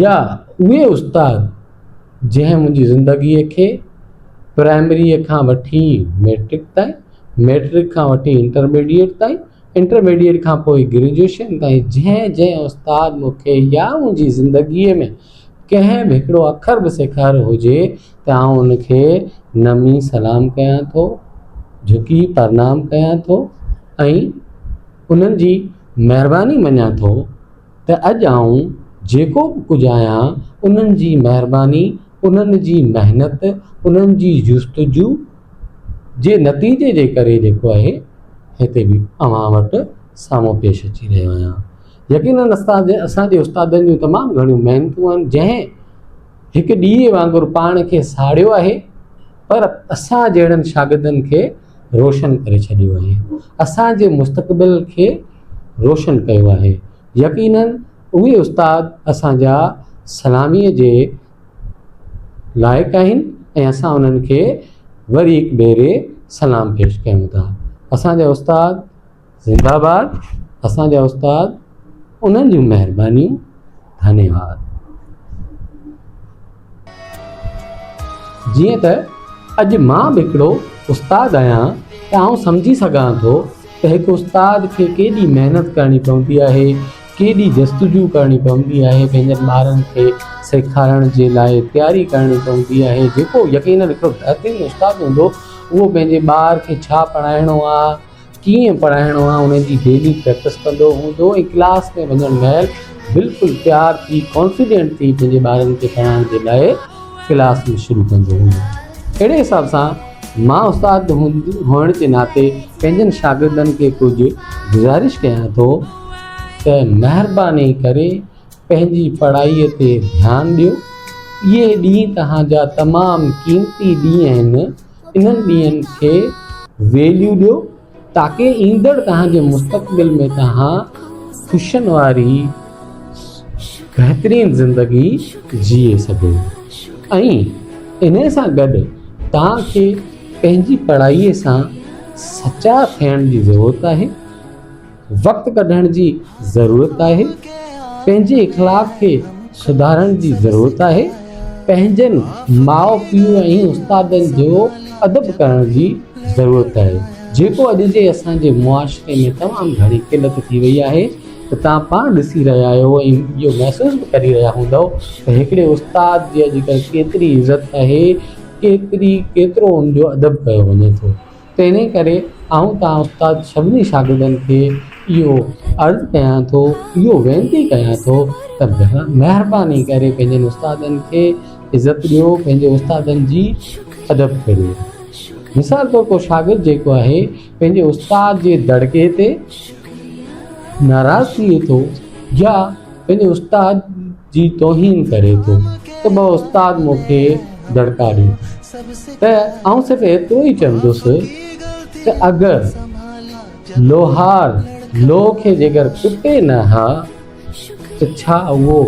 يا اهي استاد جنهن منهنجي زندگيء کي پرائمريء کان وٺي ميٽرڪ تائين ميٽرڪ کان وٺي انٽرميڊيٽ تائين انٽرميڊيٽ کان پوء گريجوئيشن تائين جنهن جنهن استاد مونکي يا منهنجي زندگيء ۾ ڪنهن به هڪڙو اکر به سيکاريو هجي ته آئون ان کي نمي سلام ڪيان ٿو جهڪي پرنام ڪيان ٿو ۽ انهن جي مهرباني مڃان ٿو ته اڄ آئون جيڪو به ڪجهه آهيان، انهن جي مهرباني، انهن جي محنت، انهن جي جستجو جي نتيجي جي ڪري جيڪو آهي هتي به اوهان وٽ سامهون پيش اچي رهيو آهيان. يقينن اسان جي استادن جون تمام گهڻيون محنتون آهن جنهن هڪ ڏيئي وانگر پاڻ کي ساڙيو آهي پر اسان جهڙن شاگردن کي روشن ڪري ڇڏيو آهي اسان جي مستقبل کي روشن ڪيو آهي يقينن اهي استاد اسان جا سلاميء جي لائق آهن ۽ اسان انهن کي وري هڪ ڀيري سلام پيش ڪيون ٿا اسان جا استاد زنده باد اسان جا استاد انهن جون مهربانيون ڌنيواد. جيئن ته اڄ مان به هڪڙو استاد آهيان ته آئون سمجهي سگهان ٿو ته هڪ استاد کي ڪيڏي محنت ڪرڻي پوندي آهي ڪيڏي جستجو ڪرڻي پوندي آهي پنهنجن ٻارن کي سيکارڻ جي لاء تياري ڪرڻي پوندي آهي جيڪو يقينن هڪڙو بهترين استاد هوندو اهو پنهنجي ٻار کي ڇا پڙهائڻو آهي ڪيئن پڙهائڻو آهي ان جي ڊيلي پريڪٽس ڪندو هوندو ۽ ڪلاس ۾ وڃڻ مهل بلڪل تيار ٿي ڪانفيڊنٽ ٿي پنهنجي ٻارن کي پڙهائڻ جي لاء ڪلاس ۾ شروع ڪندو هوندو اهڙي حساب سان مان استاد هئڻ جي ناتي پنهنجن شاگردن کي ڪجهه گذارش ڪيان ٿو ته مهرباني ڪري پنهنجي پڙهائي تي ڌيان ڏيو اهي ڏينهن توهان جا تمام قيمتي ڏينهن آهن انهن ڏينهن کي ويليو ڏيو تاڪي ايندڙ توهان جي مستقبل ۾ توهان خوشين واري بهترين زندگي جيئي سگهو ۽ ان سان گڏ توهان کي پنهنجي پڙهائي سان سچا ٿيڻ جي ضرورت آهي وقت ڪڍڻ جي ضرورت آهي، پنهنجي اخلاق کي سڌارڻ جي ضرورت آهي، پنهنجن ماء پيء ۽ استادن جو ادب ڪرڻ جي ضرورت آهي، جيڪو اڄ جي اسان جي معاشري ۾ تمام گهڻي قلت ٿي وئي آهي ته توهان پاڻ ڏسي رهيا آهيو ۽ اهو محسوس به ڪري رهيا هوندؤ ته هڪڙي استاد جي اڄڪلهه ڪيتري عزت آهي، ڪيتري ڪيترو ان جو ادب ڪيو وڃي ٿو. تنهن ڪري آئون توهان استاد سڀني شاگردن کي اهو عرض ڪيان ٿو اهو وينتي ڪيان ٿو ته مهرباني ڪري پنهنجن استادن کي عزت ڏيو پنهنجي استادن جي ادب ڪريو مثال طور ڪو شاگرد جيڪو آهي پنهنجي استاد جي دڙڪي تي ناراض ٿئي ٿو يا پنهنجي استاد جي توهين ڪري ٿو ته ٻه استاد مون کي دڙڪا ڏين ته آئون صرف ايترو ئي چوندس ته اگر لوهار لوهه کي جيڪر ڪٽي نه ها ته ڇا اهو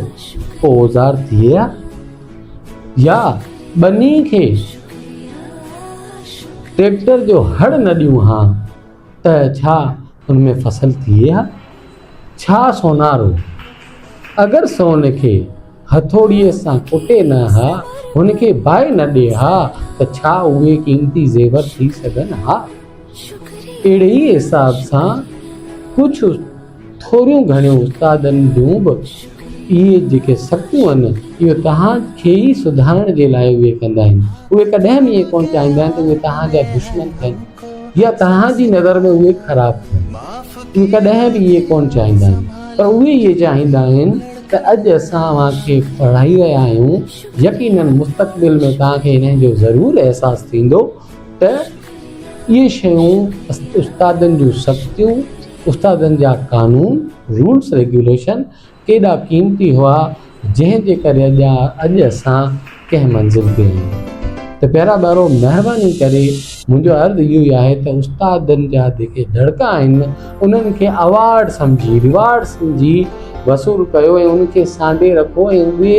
ڪو اوزار ٿئي ها يا ٻني کي ٽريڪٽر جو هڙ نه ڏيون ها ته ڇا ان ۾ فصل ٿئي ها ڇا سونارو اگر سون کي هٿوڙيء سان ڪٽي نه ها هن کي باهه نه ڏئي ها ته ڇا اهي قيمتي زيور ٿي سگهن ها اهڙي ئي حساب سان ڪجهه ٿوريون گهڻيون استادن جون به اهي جيڪي سڪون آهن اهي توهان کي ئي سڌارڻ جي لاء اهي ڪندا آهن اهي ڪڏهن به اهي ڪونه چاهيندا آهن ته اهي توهان جا دشمن ٿين يا توهان جي نظر ۾ اهي خراب ٿين اهي ڪڏهن به اهي ڪونه چاهيندا آهن پر اهي اهي چاهيندا آهن ته اڄ اسان اوهان کي پڙهائي رهيا آهيون يقينن مستقبل ۾ توهان کي انهن جو ضرور احساس ٿيندو ته اهي شيون استادن جون سختيون، استادن جا قانون، رولس ريگيوليشن ڪيڏا قيمتي هئا جنهن جي ڪري اڄ اڄ اسان ڪنهن منزل تي آهيون ته پيارا ٻارو مهرباني ڪري منهنجو عرض اهو ئي آهي ته استادن جا جيڪي دڙڪا آهن انهن کي اوارڊ سمجهي ريوارڊ سمجهي وصول ڪيو ۽ ان کي سانڍي رکو ۽ اهي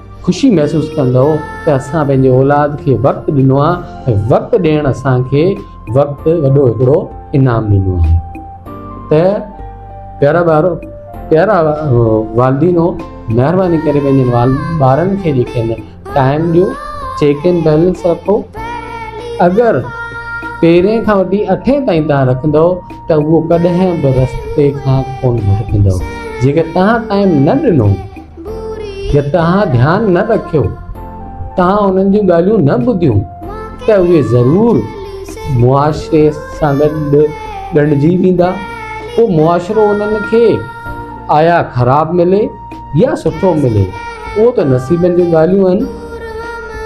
خوشي محسوس ڪندؤ ته اسان پنهنجي اولاد کي وقت ڏنو آهي ۽ وقت ڏيڻ اسان کي وقت وڏو هڪڙو انعام ڏنو آهي ته پيارا ٻارو پيارا والدينو مهرباني ڪري پنهنجي ٻارن کي جيڪي ٽائم ڏيو چيڪ ان بيلنس رکو اگر پيرين کان وٺي اٺين تائين تان رکندو ته اهو ڪڏهن به رستي کان ڪون ڀٽڪندو جيڪر تان ٽائم نه ڏنو جي توهان ڌيان نه رکيو، توهان انهن جون ڳالهيون نه ٻڌيون ته اهي ضرور معاشري سان گڏ ڳنڍجي ويندا، پوء معاشرو انهن کي آيا خراب ملي يا سٺو ملي اهو ته نصيبن جون ڳالهيون آهن،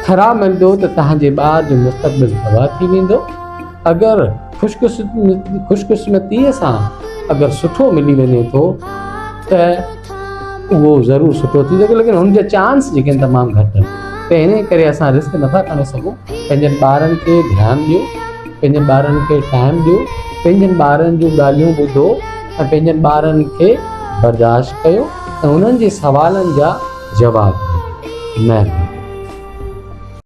خراب ملندو ته توهان جي ٻار جو مستقبل تباهه ٿي ويندو، اگر خوشقسمتي سان اگر سٺو ملي وڃي ٿو ته اهو ضرور سٺو ٿي سگهيو ليڪن هن جا چانس جيڪي آهن تمام گهٽ آهن ته هن ڪري اسان رسڪ نٿا کڻي سگهون پنهنجن ٻارن کي ڌيان ڏيو پنهنجن ٻارن کي ٽائم ڏيو پنهنجن ٻارن جون ڳالهيون ٻڌو ۽ پنهنجن ٻارن کي برداشت ڪيو ۽ انهن جي سوالن جا جواب ڏيو مهرباني